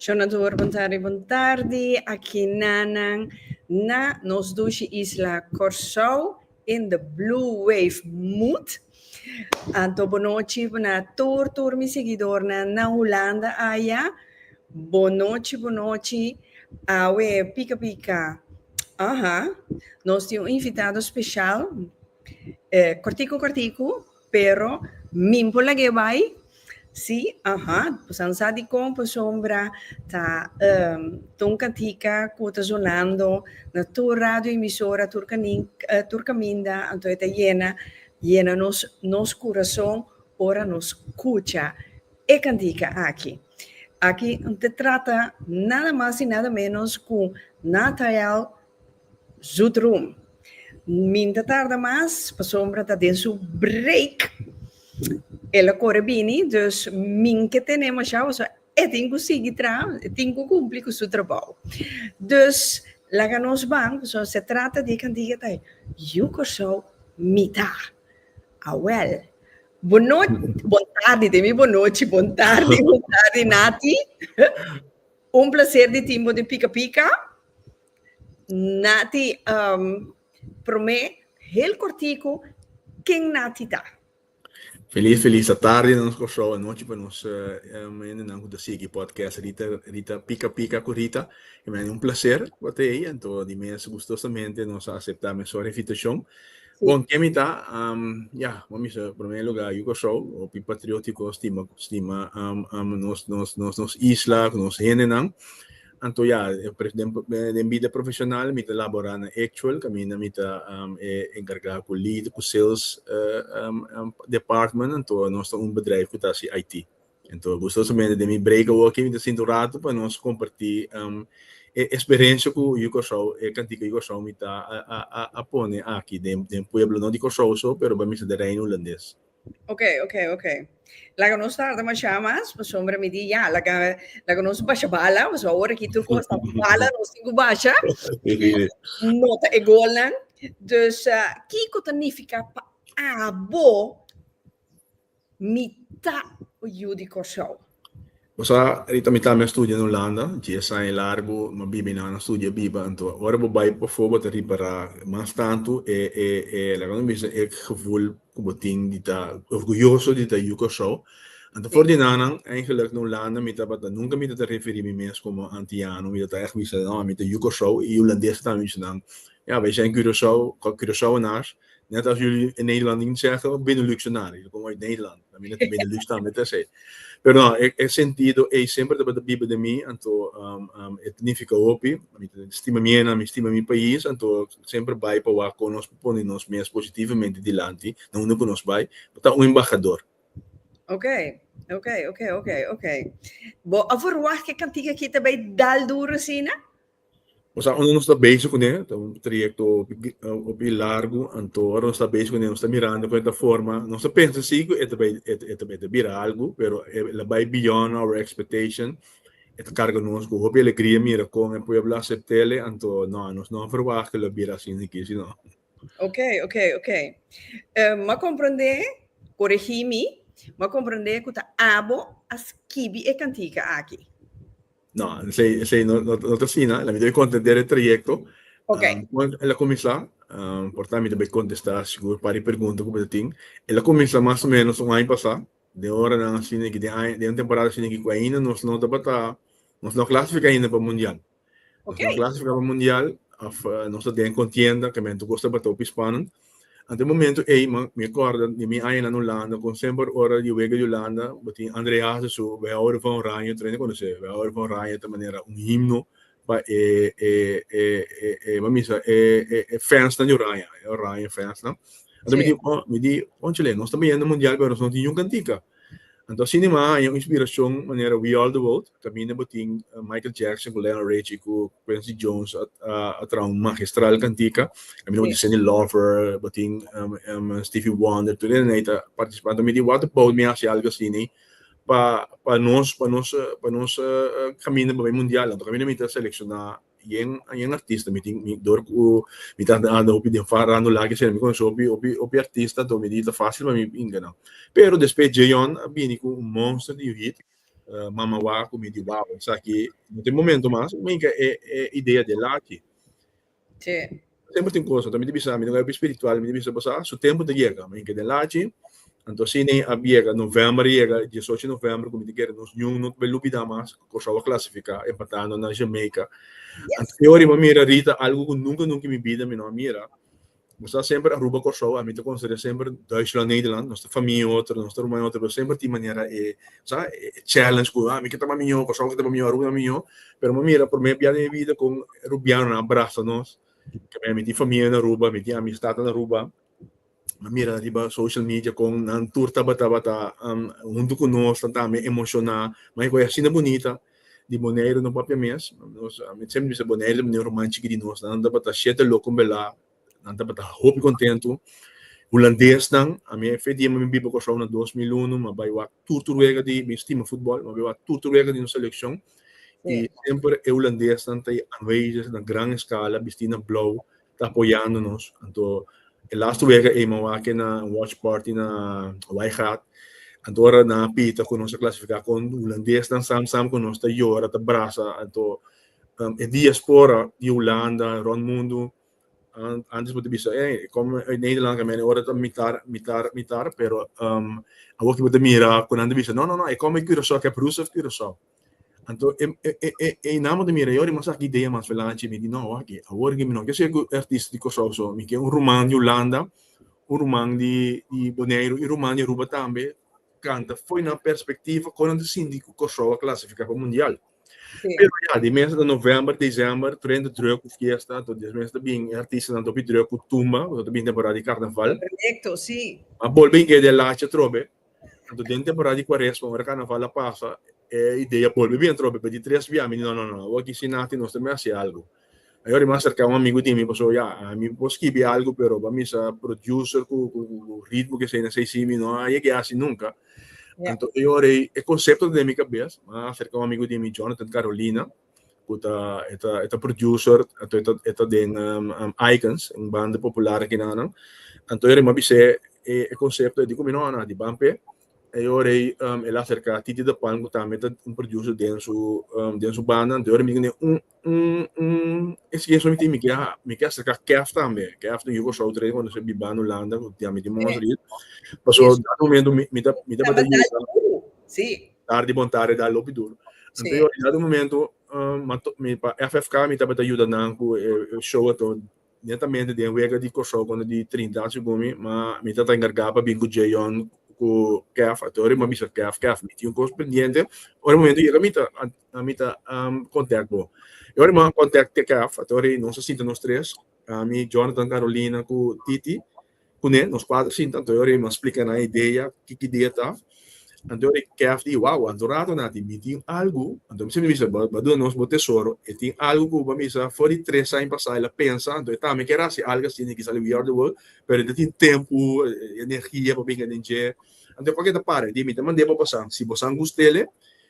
Shonador, bon tardi, bon tardi aki nanan na nos dushi isla Kòrsou in the blue wave mood. Anto bonochi na tur tur mi seguidornan na Hulanda aya. Bonochi bonochi awe pika pika. Aha, nos tin un invitado special, eh, kòrtiku kòrtiku. Pero min por lag'é bai? Sí, aha, bosan sa dikon Posombra ta um ta un kantika ku ta sonando na tur radioemisora, tur kanin, tur kaminda, anto e ta yena yena nos nos kurason ora nos kucha e kantika aki. Aki ta trata nada mas i nada ménos ku Nathael. Zoet Room. Min ta tarda mas, pasobra ta den su break. El a kore bini, dus min ke tene masha hosa, e tin ku sigui traha, e tin ku kumpli ku su trabou. Dus, laga nos ban, pasobra se trata di e kantiga ta Yu Kòrsou mi ta. Awèl, bon nochi, bon tardi, te mi bon nochi, bon tardi, bon tardi Nati. Un plaser di tin bo den Pika Pika. Nati, um, promé, heel kortiku, ken Nati ta? Feliz feliz atardi na nos Kòrsou, anochi pa nos um, hendenan ku ta sigui podcast Rita Rita Pika Pika ku Rita. E men un plaser pa ta ei, anto di mes gustosamente nos a aseptá men sòri invitashon. Sí. Bon, ken mi ta? Um, ya, mami bisa promé lugá yu Kòrsou, hopi patriótiko, stima stima um, um, nos nos nos nos isla ku nos hendenan. Anto ya, den bida profesional mi ta labora na Actual, caminda mi ta e encarga cu lead, cu sales department, anto nos ta un bedrijf cu ta haci IT. Anto gustosamente den mi break awoki mi ta sinta un rato pa nos comparti e experiencia cu Yu Curaçao, e cantica Yu Curaçao mi ta a pone aki den pueblo, no di Curaçao so, pero bamisa den Reino Hulandes. Ok, ok, ok. Laga nos tarda masha mas, pa sombra mi di ya, laga, laga nos basha bala, mas ahora ki tur kosta bala, nos tingu basha. Nota e golan. Dus, uh, kiko ta nifika pa abo mita yu di Kòrsou? Bo sa, Rita, mi tambe a studia na Hulanda. Dies aña i largu no biba i nan a studia biba. Anto, ora bo bai pafó bo ta ripará mas tantu e, e, e, laga mi bisa, e gevoel ku bo tin di ta orguyoso di ta yu Kòrsou. Anto, for di nannan, eingelik na Hulanda mi tabata, nunka mi no ta referí mi mes komo antiano. Mi ta ta ègt bisa, no, mi ta yu Kòrsou. I hulandes tambe mi bisa nan, Ja, wij zijn Curaçao, Curaçaoenaars, net als jullie in Nederland ding zeggen, ook Beneluxenaar. Jullie komen uit Nederland. Dat meen dat Benelux dan met z'n. Pero no, ik ik sentido ei sempre dat de bibe de mi, anto um um et nifica hopi, mi stima mi ena, mi stima mi pais, anto sempre bai pa wak kon nos pone nos mes positivamente dilanti na unda ku nos bai, pa ta un embahador. Okay, okay, okay, okay, okay. Bo a verwacht ke kantiga aki ta bai dal duro asina? Nos a unda nos ta bezig kuné ta un trayekto hopi largu anto ora nos ta bezig kuné nos ta mirando kon e ta forma nos ta pensa si ku e ta bai e ta bai ta bira algu pero e la bai beyond our expectation e ta karga nos ku hopi alegria mira kon e pueblo asept'el anto no nos no a verwacht ku lo bira asin si kisi no. Ok ok ok Em a komprendé koregí mi m'ha komprendé ku ta abo a skibi e kantika aki. No, esei, esei no, no, no ta sina. La mi ta contender el trayecto. Ok. Um, cuando el a comenzá, um, por tanto, mi ta bay contestar, seguro, para die pregunta que tin. El a comenzá más o menos un año pasá. De hora nan así, que de, año, de una temporada así, que ainda nos no ta bata, nos no clasifica ainda para mundial. Nos Ok. no clasifica para mundial, of, uh, nos ta den contienda, que men tu costa bata op Hispanen. Ante momento ey mi corda di mi aña nan Hulanda con semper ora di wega di Hulanda bo tin André Hazes su We houden van Oranje tren a conoce We houden van Oranje ta manera un himno pa e e e e bo a bisa e e e fans nan di Oranje e Oranje fans nan anta mi di oh mi di conchale nos ta bayendo mundial pero nos no tin yun cantica Anto asina mi a haña un inspirashon manera We Are The World, kaminda bo tin Michael Jackson ku Lionel Richie ku Quincy Jones a traha un magistral kantika, kaminda bo tin Cyndi Lauper, bo tin Stevie Wonder, tur esnan ei ta partisipá. Anto mi di what about mi hasi algu asina pa nos kaminda pa bai mundial. Anto kaminda mi ta selekshona Yen yen artista mi tin mi dor ku mi ta anda hopi den far rando lak esei mi konoshi hopi hopi hopi artista anto mi di ta fácil pa mi pinga nan pero despues Djeyon a bini ku un monster di un hit Mama Wak ku mi di wow esaki no ta e momento mas mi hinka e e idea del aki. Tempu tin kosa, ta mi ta bisa, mi no gaiba spiritual, mi ta bisa bosa, su tempu ta yega, mi ke den lachi, anto asina a yega, novèmber a yega, e diesocho di novèmber ku mi ta kere nos ñuun no ta bai lubidá mas, Kòrsou a klasifiká, empatando na Jamaica. Anto e ora mi a mira Rita, algu ku nunka nunka i mi bida mi no a mira, bo sa semper Aruba, Kòrsou, ami ta konsiderá semper Duitsland, Nederland, nos ta famia en otro, nos ta ruma en otro, pero semper tin manera e, bo sa, e challenge ku, a mi ke ta ba miñó, Kòrsou ke ta ba miñó, Aruba ta ba miñó, pero mi mira prome bia den mi bida con e rubianonan a brasa nos keme mi tin famia na Aruba mi tin amistanan na Aruba mi a mira riba social media con nan tur tabata hunto cu nos nan ta mi emociona ma e cos asina bunita di Boneiru no papia mes nos mi siempre bisa Boneiru ta bini un ruman chikiti di nos nan tabata shete loco bela Nan tabata hopi kontentu. Hulandesnan, ami e fe di mi biba Kòrsou na dos mil unu, mi a bai wak tur tur wega di, mi stima futbòl, mi a bai wak tur tur wega di nos selekshon, i semper e hulandesnan ta anwezig na gran eskala bistí na blou ta apoyando nos. Anto e laster wega ei mi a wak e na un wòtch pàrti na Weigaat, anto ora nan a pita ku nos a klasifiká kon hulandesnan sam sam ku nos ta yora, ta brasa, anto e diaspora di Hulanda rònt mundu, An, antes bo te bisa, eh, kom uit Nederland ka mene ora ta mitar, mitar, mitar, pero um, awoki bo te mira, kunan te bisa, no, no, no, e kom uit Curaçao, kep Roes of Curaçao. Anto, e, e, e, e, e naam bo te mira, yori mas aki idea mas velanchi, mi di, no, waki, awor ki mi no, ke se ku artista di Curaçao so, mi ke un ruman di Holanda, un ruman di, di Bonaire, un ruman di Aruba tambe, kanta foi na perspectiva, konan te sinti ku Curaçao a clasifica pa mundial. Pero ya, die mensen in november, december, tren de druk of fiesta, tot die mensen bin artiesten dan topi druk of tumba, tot bin temporada di carnaval. Perfecto, sí. A bolbe in de lache trobe. Tanto den temporada di quaresma, ora carnaval a pasa, e idea bolbe bien trobe, pero di tres via, mi no, no, no, waki sinati nos te me hace algo. Ai ora mi a serka un amigu di mi paso ya mi por skibi algu pero bo a misa producer ku ritmo ke esei esei si mi no a yega yasi nunka anto e ora ei e konsepto ta den mi kabes a serka un amigu di mi Jonathan Carolina ku ta e ta e ta producer anto e ta e ta den Icons un banda popular aki nan nan anto ora mi a bis'e e konsepto ei diko mi no ana di ban p'e e ora ei el a serka Titi de Palm ku tambe ta un producer den su den su banda anto ora mi done un Isi ke esun tin mi ke mi ke acerca Kef tambe Kef tin yu Kòrsou dre cuando esei biba na Hulanda cu diami tin Montreal pasobra un dado momento mi mi ta mi tabata yuda dar di bontad e dar lopi duro entonces un dado momento mi pa FFK mi tabata yuda nan cu e show ato netamente den wega di Kòrsou cuando di Trinidad segun mi ma mi ta ta encarga pa bin cu Djayhon cu Kef ato ora mi a bisa Kef Kef mi tin un cos pendiente ora momento yega mi ta ami ta kontèkt bo. E ora mi a kontèkt Tekèf, a ta e ora ei nos a sinta nos tres, ami, Jonathan, Carolina ku Titi, kuné, nos kuater sinta. Anto e ora ei mi a splika nan e idea, ki ki idea ta. Anto e ora ei Kèf di, Wao, anto rato na tin, mi tin algu, anto mi siempre bisa, bo a duna nos bo tesoro, e tin algu ku bo a bisa for di tres aña pasá el a pensa, anto e tambe ker hasi algu asina e kisa We Are The World, pero e no tin tempu, energia pa binga den dje. Anto e por ke ta para? E di, mi ta mand'é pa bosan, si bosan gust'é lé,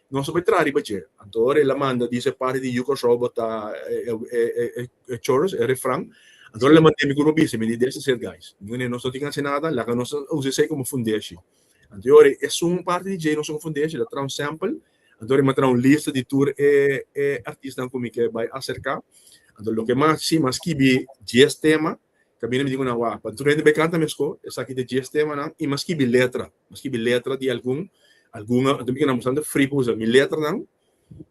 Nos a bai traha riba dje. Anto ora el a manda di se parti di yu Kòrsou botá e chorus, e refran, anto ora el a manda mi ku Robí si mi di des a ser gais. Mi wende nos no tin hasi nada, laga nos a usa esei komo fundeshi. Anto e ora e sun un parti di dje nos komo fundeshi, el a traha un sèmpel, anto ora el a traha un lista di tur e artisnan ku mi ke bai aserká. Anto loke mas si mi a skibi dies tema. Camina mi tin un award pa tur hende bay canta mesco, esaki ta dies temanan y m'a skibi letra, m'a skibi letra di algun, algun a tin bikina bastante free pa usa mi letranan,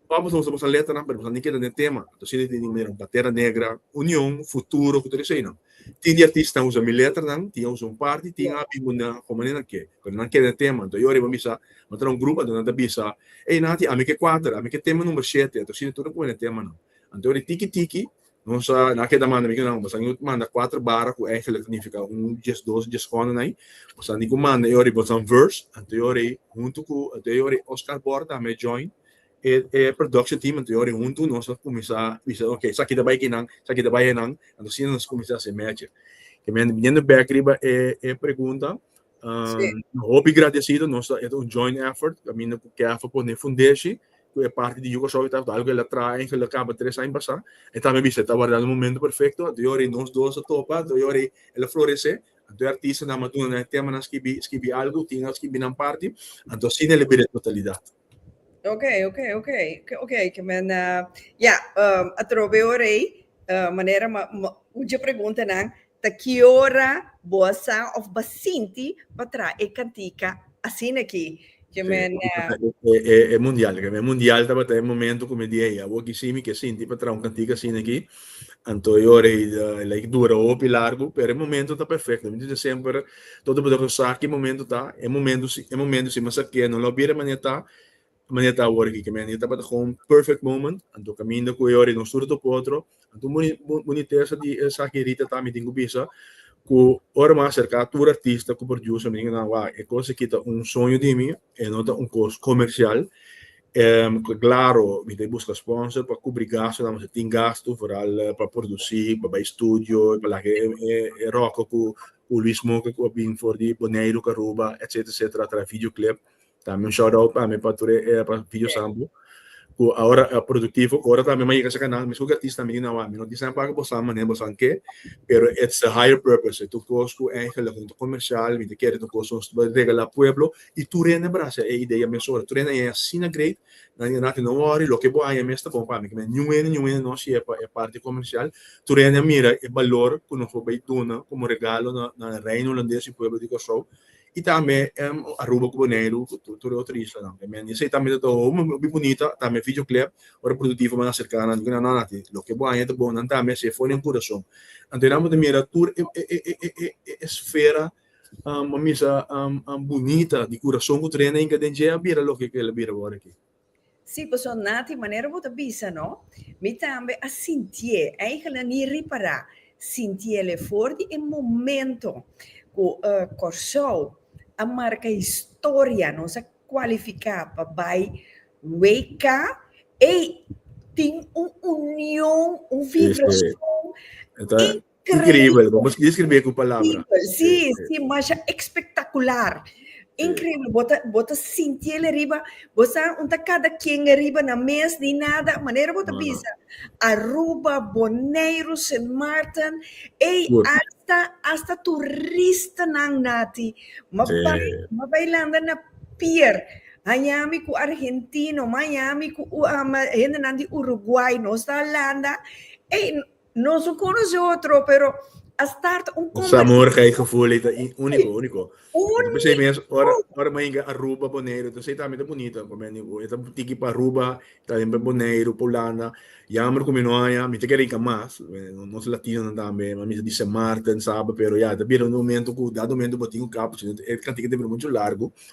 pa boso usa boso letranan pero boso tin keda den tema, ta asina tin tin manera Pantera Negra, Union, Futuro cu tur eseynan, tin di artistanan usa mi letranan, tin a usa un parti, tin a habi munda como anto nan ke, pero nan keda den tema, anto yo ariba mi bisa bo ta na un grupo, anto nan ta bisa, ey Nati ami ke cuater, ami ke tema number shete, anto asina tur a cume den temanan, anto ora e tiki tiki, Nos a na keda manda mi ku nan, boso a nigu manda kuater bara ku èngel a signifiká un, dies, dos, dies kònen ai. Boso a nigu manda e ora ei, boso a verse anto e ora ei huntu ku anto e ora ei Oscar Bor tambe a join e e production team anto e ora ei huntu nos a kuminsá bisa okay esaki ta bai ki nan, esaki ta bai anan anto asina nos kuminsá hasi e mèche. Te mende biniendo bèk riba e e pregunta. Sí. Nos hopi gradecido, nos ta eta un joint effort, caminda cu CAFA pone fundeshi, cu e parti di Yucasou y Tafda, algo el a traha en Geldercampus tres aña pasa, e tambe bisa, ta warda un momento perfecto, anto yo rei nos dos a topa, anto yo rei el a florece, anto e artistanan a duna nan e temanan, skibi, skibi algo, tin a skibi nan parti, anto asina el a bira totalidad. Ok, ok, ok, ok, ke men ya, atrobe ora ei manera ma un dje preguntanan ta ki ora bo a sa òf bo a sinti pa traha e kantika asina aki, ke men. E mundial, ke men mundial tabata e momentu ku mi di ei, awor kisi mi ke sinti pa traha un kantika asina aki, Anto e ora ei ta like dura hopi largu pero e momento ta perfecto. Mi ta bisti semper todo bo ta gosa ki momento ta e momento si e momento si mester ke no lo bira mane ta mane ta awor aki kimin e tabata gewoon perfect moment anto kaminda ku e ora ei nos tur tok otro anto boni bonitesa di esaki Rita ta mi tin ku bisa ku ora mi a aserka tur artista ku producer mi tin ku nan wao e kos aki ta un soño di mi e no ta un kos komersial Ta claro mi ta busca sponsor pa cubri gasto nan nos a tin gasto vooral pa produci pa bay studio pa laga e roco cu Louis Moca cu a bini for di Boneiru cu Aruba etcetera etcetera a traha video clip tambe un shout out pa mi pa tur e video sample cu ahora a productivo cu ahora tambe mi a yega asina nan mesco cu artista tambe di nahuatl mi no tin sa paga boso nan manera boso nan ke pero its a higher purpose ets un cos cu eigenlic no ta comercial mi ta kere ets un cos nos ta regala pueblo Y tur hende a bira haci e idea mes ora. Tur hende a yega asina great, nan di, Nati, no worry, loke bo haya mes ta bon pa mi. Kibera, niun hende, niun hende no hacia e parti comercial. Tur hende a mira e balor cu nos por bay duna como regalo na, na e Reino Hulandes y pueblo di Corsou. Y tambe Aruba cu Boneiru, cu tur e otro islanan. E men esey tambe ta omo muy bunita, tambe videoclep. Ora productivo ban a cerca nan, nan di cu nan, No, Nati, loke bo haya ta bon. Nan tambe haci e for den curason. Anto nan bo ta mira tur e, e, e, e, e, e esfera. Am a misa am am bunita di kurason ku trena inka den dje a bira loke ku el a bira wòrdu aki. Sí, pasobra na tin manera ku bo ta bisa no, mi tambe a sintié, eigene ni ripará, sintié el e for di e momento ku Kòrsou a marka historia, nos a kualifiká pa bai WK, ei tin un union, un vibrason. Increíble, vamos a describir con palabras. Sí, sí, más espectacular. Increíble, bota, bota sintiel arriba, bota unta cada quien arriba na mes ni nada, manera bota no, bisa. No. Aruba, Bonaire, Sint Maarten, ei, Goed. hasta, hasta turista nan nati, ma sí. bai, ma bailando na pier. Miami ku Argentino, Miami ku um, hende nan di Uruguay, nos ta Holanda, ei, Nos no conoce otro, pero a start un conversación. Sa morgen hay gevoel, hij ta único, único. Único. Pues hij mens, ora, ora maar inga Aruba, Bonaire, dus hij también ta bonito, pa men, hij ta tiki pa Aruba, también pa Bonaire, pa Hulanda, jammer ku mi no haya, mi ta kere inga mas, nos latinonan también, mi ta di Sint Maarten, Saba, pero ya, ta bira un momento ku dat momento bo tin un kapchi, e kantiga ta bira muchu largu.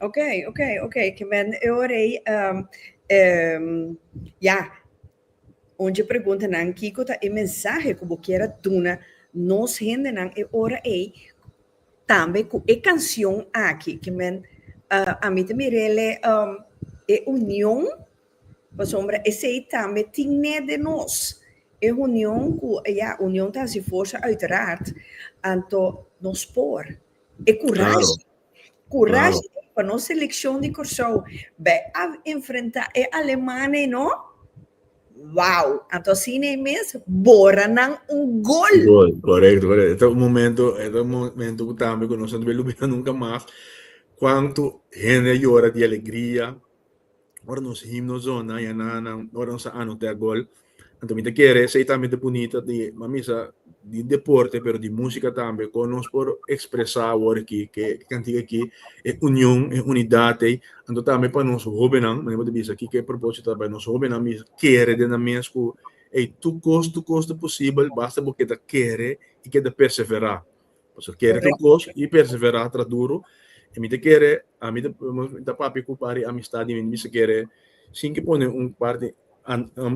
Ok, ok, ok. Ke men e orei um, um, ya. Onje pregunta nan kiko ta e mensahe ku bo kiera duna nos hende nan e ora ei tambe ku e kansion aki ke men uh, a mi te mirele um, e union pasombra esei tambe tinne de nos e union ku ya union ta si forsa uiteraard anto nos por e kurashi claro. Kurashi pa nos selekshon di Kòrsou bai a enfrentá e alemannan ei no, wou! Anto asina ei mes bora nan un gol. Gol, korekto, korekto. E ta un momento, e ta un momento ku tambe ku nos no ta bin lubidá nunka mas, kuantu hende a yora di alegria. ora nos himno zona ya na nan ora nos a anotea gol anto mi ta kere sei tambe ta bunita di mamisa di deporte pero di musika tambe kon nos por ekspresa awor aki ke kantika aki e union e unidat ei anto tambe pa nos hobennan manera bo ta bisa kiko e proposito ta nos hobennan mi kere den nan mes ku ei tur kos tur kos ta posibel basta bo keda kere i keda persevera Paso kere tur kos i persevera tra duru. E mi ta kere, a mi ta papia ku pari amistad di mi, mi bisa kere sin ke pone un parti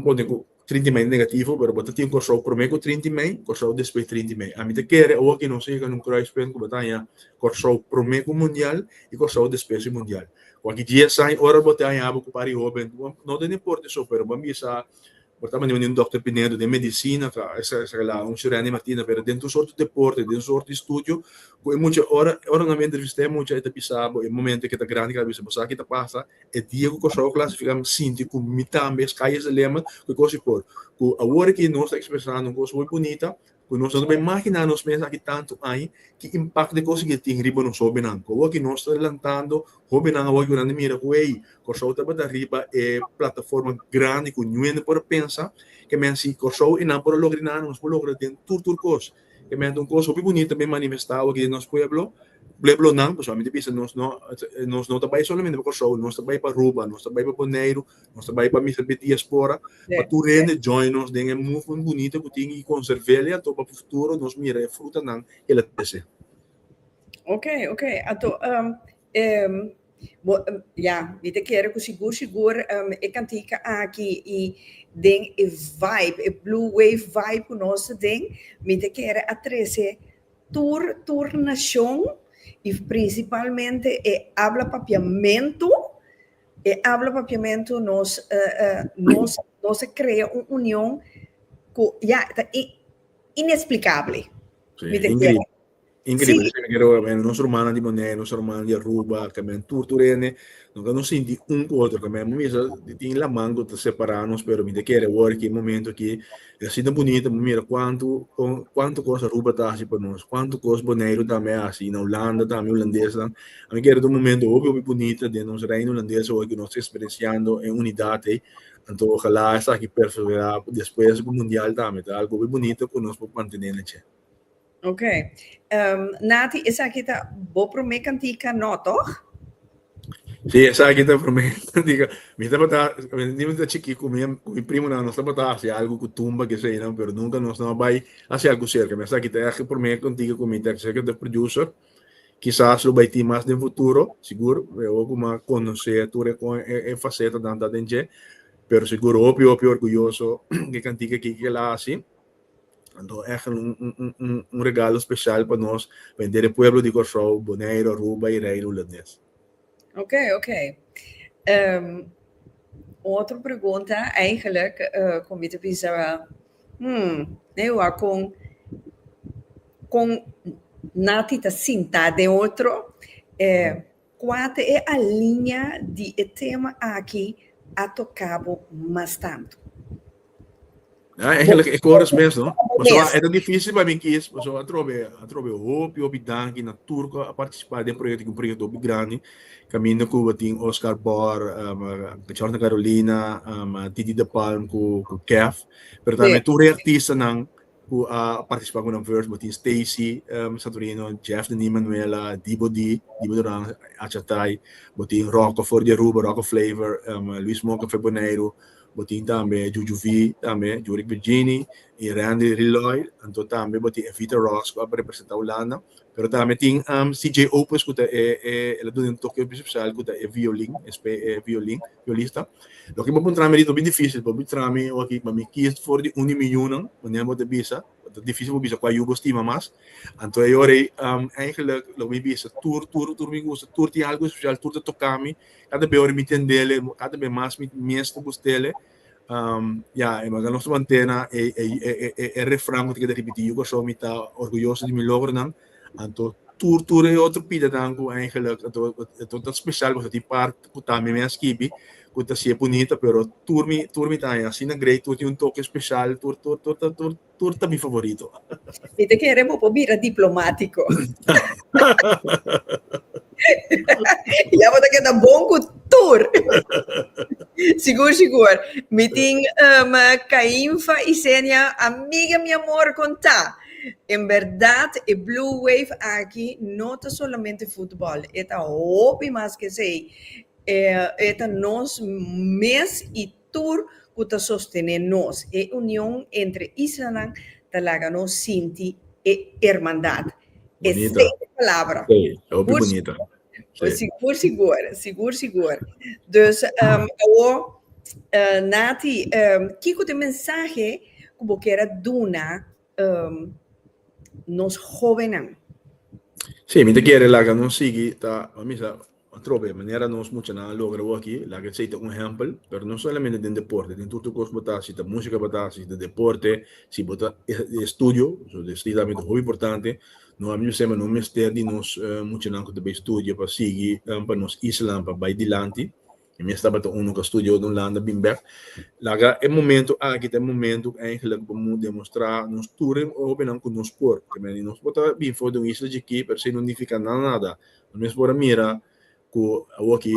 pone ku trinti mei negativo, pero bo ta tin Kòrsou promé ku trinti mei, Kòrsou despues trinti mei. A mi ta kere awo aki nos yega na un kruispunt ku bo ta haña Kòrsou promé ku mundial i Kòrsou despues di mundial. Ku aki dies aña ora bo ta haña bo ku pari hóben, no ta importa esou, pero bo a bisa Bo ta manda mi den Dòkter Pinedo den medisina, ta esa esa la un Shirena y Martina, pero den tur sort deporte, den sort di studio ku e mucha ora ora nan bo entrevistá e mucha e ta bisa bo e momento ke ta grandi ke a bisa bo sa ki ta pasa e dia ku Kòrsou a klasifiká mi sinti ku mi tambe es Calles de Lima ku e kos di por ku awor aki nos ta ekspresá nos kos hui bunita Cu nos ta tabata imagina nos mes aki tantu aña, ki impacto e cos aki a tin riba nos hobennan? Cu awor ki nos ta lantando, hobennan awor yunan di mira cu ey, Corsou tabata riba e plataforma grandi cu niu hende por a pensa, kemen si Corsou y nan por a logra nan, nos por logra den tur tur cos. Kemen ta un cos hopi bunito tambe manifesta awor aki den nos pueblo, pueblonan, pasobra mi ta bisa nos no, nos no ta bay solamente pa Corsou, nos ta bay pa Aruba, nos ta bay pa Boneiru, Nos ta bai pa misa bid diaspora, pa tur hende join nos den e movement bunito ku tin i konservelia anto pa futuro nos mira e frutanan ku el a trese. Ok, ok. Anto, um, um, bo, um, ya, mi te kere ku sigur, sigur, um, e kantika aki i den e vibe, e blue wave vibe ku nos ta den, mi te kere a trese tur, tur nashon i prinsipalmente e habla papiamentu E abla papiamentu nos nos nos a krea un union ku ya ta i inesplikable Sí, mi ta increíble. entiende Increíble. Sí. Tene que roer men nos hermana di Bonei, nos hermana di Aruba, que men tur tur hende, no que nos sinti un cu otro, que men misa tin laman cu ta separa nos, pero mi te kere hoor ki momento ki E asina ta bunito bo mira cuanto cuanto cos Aruba ta haci pa nos, cuanto cos Boneiru tambe a haci, na Hulanda tambe Hulandesnan, a mi kere ta un momento hopi hopi bunito den nos Reino Hulandes awo cu nos ta experienciando e unidad ey, anto ojala esaki perseverá despues di cu Mundial tambe ta algo hopi bunito cu nos por mantene na dje. Ok. Ehm, Nati, esaki ta bo promé kantika, no tòg? Si, esaki ta promé kantika. Mi tabata, di mi ta chikí ku mi, ku mi primonan, nos tabata hasi algu ku tumba, kesa einan, pero nunka nos no a bai hasi algu serka. Mi esaki ta èg e promé kantika ku mi ta executive producer. Kisas lo bai tin mas den futuro, sigur. Mi hopi ku mi a konosé tur e kon e fasetanan ta den dje. Pero sigur hopi, hopi orguyoso di e kantika ki, ki el a hasi. Anto echt un un regalo special pa nos, pa henter e pueblo di Kòrsou, Boneiru, Aruba i Reino Hulandes. Ok, ok. Um, otro pregunta eigenlijk, uh, con mi te bisa, hmm, ne wa con, con nati ta sinta de otro, eh, Kua ta e alinea di e tema aki a toca bo mas tanto? Aa eigenlijk e koros mes no. Pasobra e ta difícil pa mi kies pasobra atrobe atrobe hopi hopi danki na tur ku a partisipá den proyekto aki un proyekto hopi grandi kaminda ku bo tin Oscar Bor Jorna Carolina Didi de Palm ku Kef pero tambe tur e artistanan Cu a participa cu nan verse bo tin Stacy Santorino, Jeff Denis Manuela, Dibo D, Dibo Duran, Achatay, bo tin Rocko for di Aruba, Rocko Flavor, Luis Moca for Boneiru, bo tin tambe Juju V tambe, Jurick Virgini y Randri Riloy, anto tambe bo tin Evita Ross cu a representa Hulanda, pero tambe tin CJ Opus cu ta e el a duna un toke special cu ta e violin, espe e violin. Yo lista. Loke bo por traha mi ritmo bin dificil, bo por traha mi oki, ma mi kies for di un di mi yunan, manera bo ta bisa, ta dificil bo bisa kua yu bo stima mas. Anto e ora ei, eigenlijk, loke mi bisa, tur, tur, tur mi gusta, tur tin algu especial, tur ta toka mi, kada be ora mi tendele, kada be mas mi mes ta gustele, ya, e mas nos ta mantena e refran ku ta keda ripiti yu corazon, mi ta orguyoso di mi logronan, Anto tur tur e otro pidenan cu eigenlijk anto anto ta special pasobra tin part cu tambe mi a skibi cu ta sier bunita pero tur mi tur mi ta asina great tur tin un toke special tur tur tur ta tur tur ta mi favorito. Mi ta kere bo por bira diplomatico. ya bo ta keda bon cu tur. sigur sigur. Mi tin um Cainfa y Zenia amiga mi amor con ta. En berdad e Blue Wave aki no ta solamente futbol, e ta hopi mas ke esei. E, e ta nos mes i tur ku ta sostené nos. E union entre islanan ta laga nos sinti e hermandad. Bonita. Esei e palabra. Esei, e hopi bonita. Oye, sigur, sigur, sigur, sigur. Dus, um, awo, uh, Nati, um, kiko te mensahe ku bo kera duna um, nos jovennan? Sí, mi te kere laga nos sigui ta, mamisa, trobe, manera nos mucha na logra wo aki, laga sei ta un hempel, pero no solamente den deporte, den tutu kos bota, si ta musika bota, si ta deporte, si bota estudio, so de stigamente hobi importante, No ami mester, ma no mester di nos muchanan cu ta bay studia pa sigui pa nos Islan pa bay dilanti. E mes tabata un, no ka studia otro, no landa bin bek. Laga e momento aki ta e momento cu eigenlijk bo moe demostra nos tur e hopinan cu nos por. Nos por ta bin for den un isla chikí, pero esey no nifica na nada. Nos mes por a mira. ku awo aki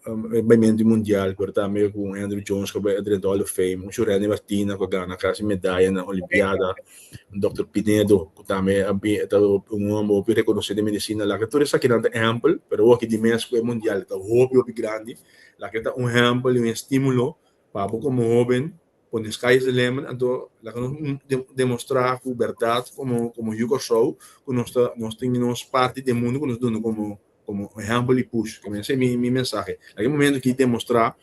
e bai menti mundial pero tambe ku un Andruw Jones ku a bai drenta Hall of Fame un Shureni Martina ku a gana kasi medaya na olimpiada un Dòkter Pinedo ku tambe a bin e ta un hòmber hopi rekonosé den medisina laga tur esakinan ta ehèmpel pero awo aki dimes ku e mundial ta hopi hopi grandi laga e ta un ehèmpel i un estímulo pa abo komo hóben Por den Sky is the Limit anto laga nos demostrá ku bèrdat komo Yu Kòrsou ku nos ta nos tin nos parti den mundu ku nos duna komo komo ehèmpel i push. Ta mester mi mi mensahe laga e momento aki demostrá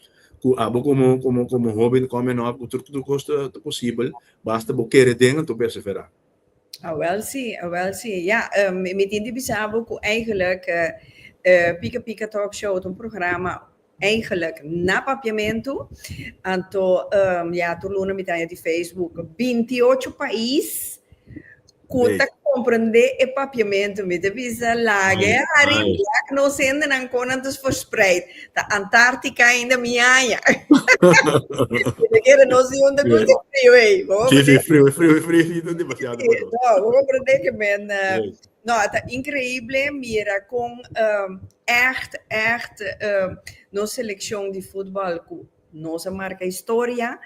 ku abo komo komo komo hoben kòmen òp ku tur tur kos ta posibel basta bo kere den anto perseverá. Awèl si, awèl si. Ya, mi tin di bisa bo ku eigelik Pika Pika Talk Show ta un programa Eigenlijk na papiamentu anto ya tur luna mi ta haña di Facebook binti ocho pais ku ta komprendé e papiamentu. Mi ta bisa laga e hari ya ku nos hendenan kon nan ta verspreid. Ta Antartica ainda mi haña. Kende kere nos di hunde koto e frio ei. Si si frio, frio, friosito demasiado pa nos. Bo komprendé ke men No, a ta increible mira con echt, echt nos seleccion di futbal cu nos a marca historia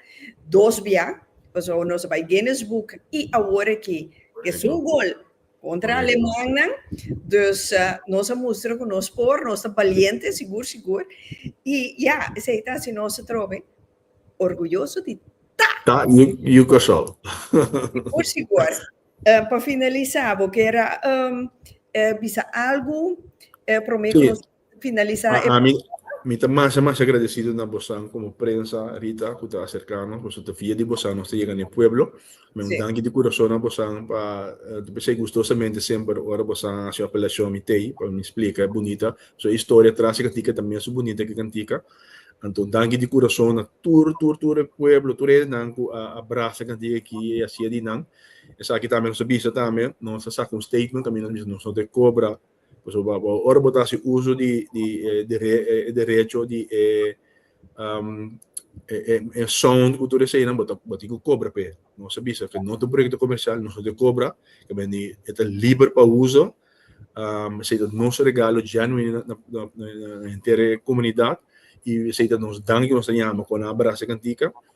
dos bia, pasobra nos a bai Guinness Book y awor aki esun gol contra Alemannan, dus nos a mustra cu nos por, nos ta baliente sigur, sigur y ya, esey ta haci nos atrobe orguyoso di ta. Ta Yucasol. Sigur, sigur. Pa finalisa bo kier a bisa algu prome ku nos finalisa e programa? Mi ta masha masha agradesido na bosan komo prensa Rita ku ta aserka nos pasobra ta via di bosan nos ta yega na e pueblo. Mi a un danki di kurason na bosan pa ta pensá i gustosamente semper ora bosan a hasi un apelashon mi t'ei pa mi splika e bunita su historia tras e kantika ta mes su bunita ku e kantika. Anto un danki di kurason na tur tur tur e pueblo tur e hendenan ku a brasa e kantika aki e hasia di nan. Esaki tambe nos a bisa tambe, nos a sak un statement tambe nos a bisa nos no ta e kobra pasobra ora bo ta hasi uso di di e derecho di e e sound ku tur eseinan bo tin ku kobra pa e. Nos a bisa ke no ta un proyekto komersial, nos no ta e kobra, kabandi e ta liber pa uso, esei ta nos regalo genuino na henter e komunidat i esei ta nos danki ku nos ta yama kona brasa kantika.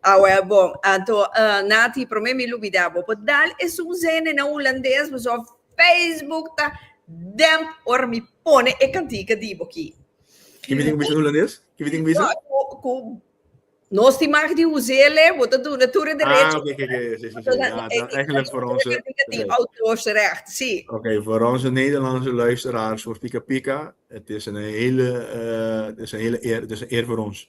Awel bon, anto Nati prome mi lubida bo por dal e suzene na hulandes paso Facebook ta damp ora mi pone e cantica di bo aki. Kibi tin cu bisa na hulandes? Kibi tin cu bisa? Cu nos tin mag di huzele bo ta duna tur e derecho. Ah oke oke oke si si si ja ta eigenlijk voor onze E cantica tin auteursrecht si. Oke voor onze Nederlandse luisteraars voor Pika Pika het is een hele het is een hele eer het is een eer voor ons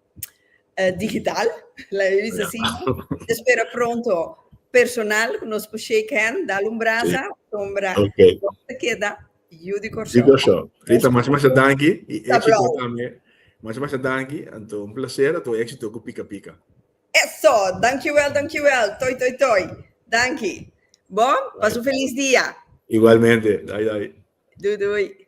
digital, laat me bisa así. Te spera pronto personal ku nos por shake hand, dal un brasa, sombra nos ta keda yu di Kòrsou. Di Kòrsou. Rita, masha masha danki i éksito tambe. Masha masha danki, anto un plaser, anto éksito ku Pika Pika. Eso! Dankiwèl, dankiwèl. Toi toi toi. Danki. Bon, pasa un felis dia. Igualmente. Dai dai. Dudui.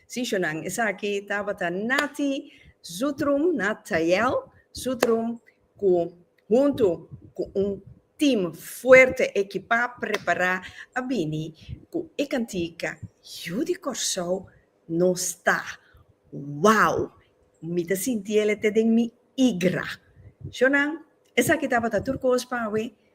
Sishonan, esaki tabata Nati Zutrum, Nathael Zutrum, cu huntu cu un team fuerte, ekipa, prepara, a bini cu e cantica Yu di Corsou no sta. Wow! Mi ta sintiele te den mi igra. Shonan, esaki tabata tur cos pa awe.